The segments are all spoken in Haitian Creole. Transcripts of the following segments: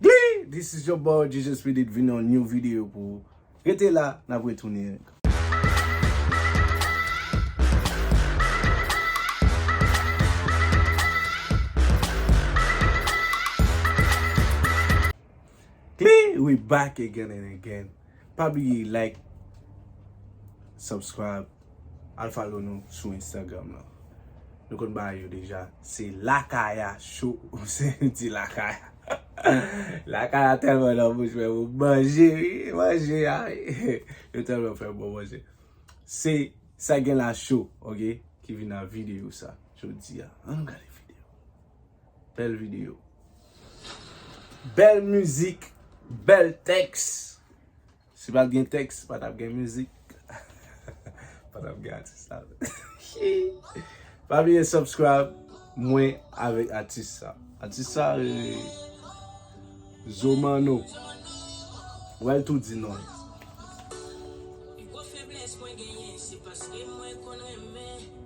Glee this is your boy Jesus Speed it vin yon new video pou ou rete la nap retounin. Glee we back again and again pa bliye like subscribe. Al follow nou sou Instagram lan. Nou konn bagay yo deja. Se Lakaya show. Ou se yon ti Lakaya. Lakaya telman nan bouch mwen pou manje wi. Manje a wi. Yo telman fè bon manje. Se Sa Gen La Show ok. Ki vin nan video sa jodi a. An nou gade video. Bel video. Bel mizik. Bel teks. Si pat gen tèks, pa tap gen mizik. Pa tap gen atis sa tou. Pa bliye subscribe mwen avèk atis sa. Atis sa rele Zo Manno. Ou wè l tou di non l.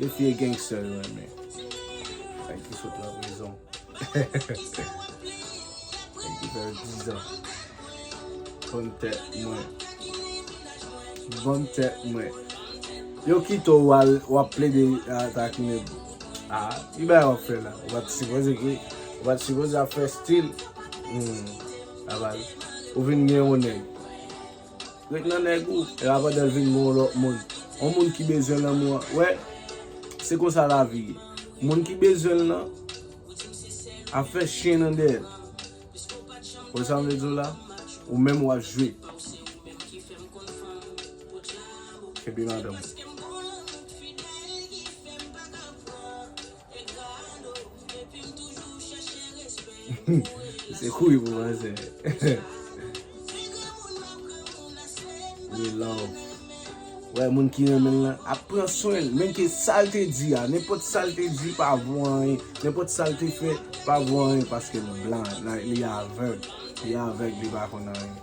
Yo t ye gangster yo renmen. Nèg ki sot nan prizon. Nèg ki fè 10 ans. Banm tèt mwen. Banm tèt mwen. Yo kito ou al wap plede takine pou. Ah, ki bagay wap fè la? Ou pat sipoze ki, ou pat sipoze ap fè stil. Hum, la baz. Ou vin gen yon nèg. Ret nan nèg ou. E pa pandan l vin gen yon lòt moun. Yon moun ki bezwen lanmou an. Wè, se konsa lavi ye. Moun ki bezwen l lan ap fè chen nan dèyè l. Wè sa m vle di w la? Ou menm w ap jwe. Kenbe madanm ou. Se kouy pou manzè. Li love. Wè moun ki renmen lan ap pran swen l. Menke sal te di a. Nenpòt sal te di pa vo anyen. Nenpòt sal te fè pa vo anyen. Paske l blan. Li avèg. Li avèg li pa konn anyen.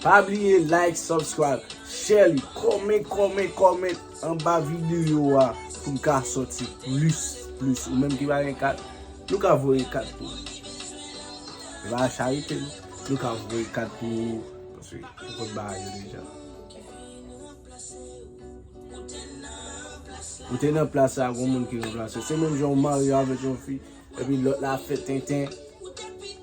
Pa bliye like, subscribe, share li. Kòmen, kòmen, kòmen. Anba video a pou m ka soti plis plis ou menm ki pa gen kat nou ka voye kat pou nou se pa charite non nou ka voye kat pou nou paske nou konn bagay yo deja ou te nan plas la gon moun ki ranplase w se menm jan ou marye avèk yon fi. Epi lot la ap fè tenten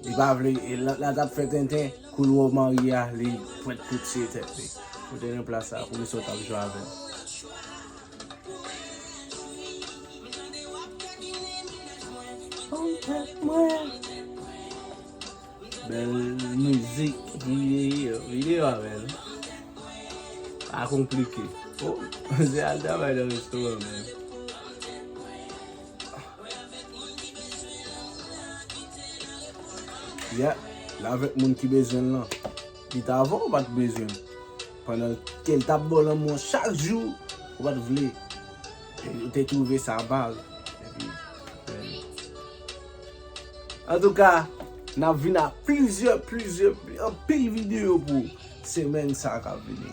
li pa vle e lot la tap fè tenten koul wè w marye a li prèt pou tiye tèt li pou teren plas sa pou misye w tap jwe avèl. Bel mizik video a bel pa konplike oh misye al travay nan restoran menm. Yeah, l avèk moun ki bezwen l lan. Li t avan w pa t bezwen l. Pandan ke l t ap ba w lanmou an chak jou, ou pa t vle. Ou te twouve sa bal. Antouka, n ap vin ak plizyè, plizyè, anpil videyo pou semèn sa a k ap vini.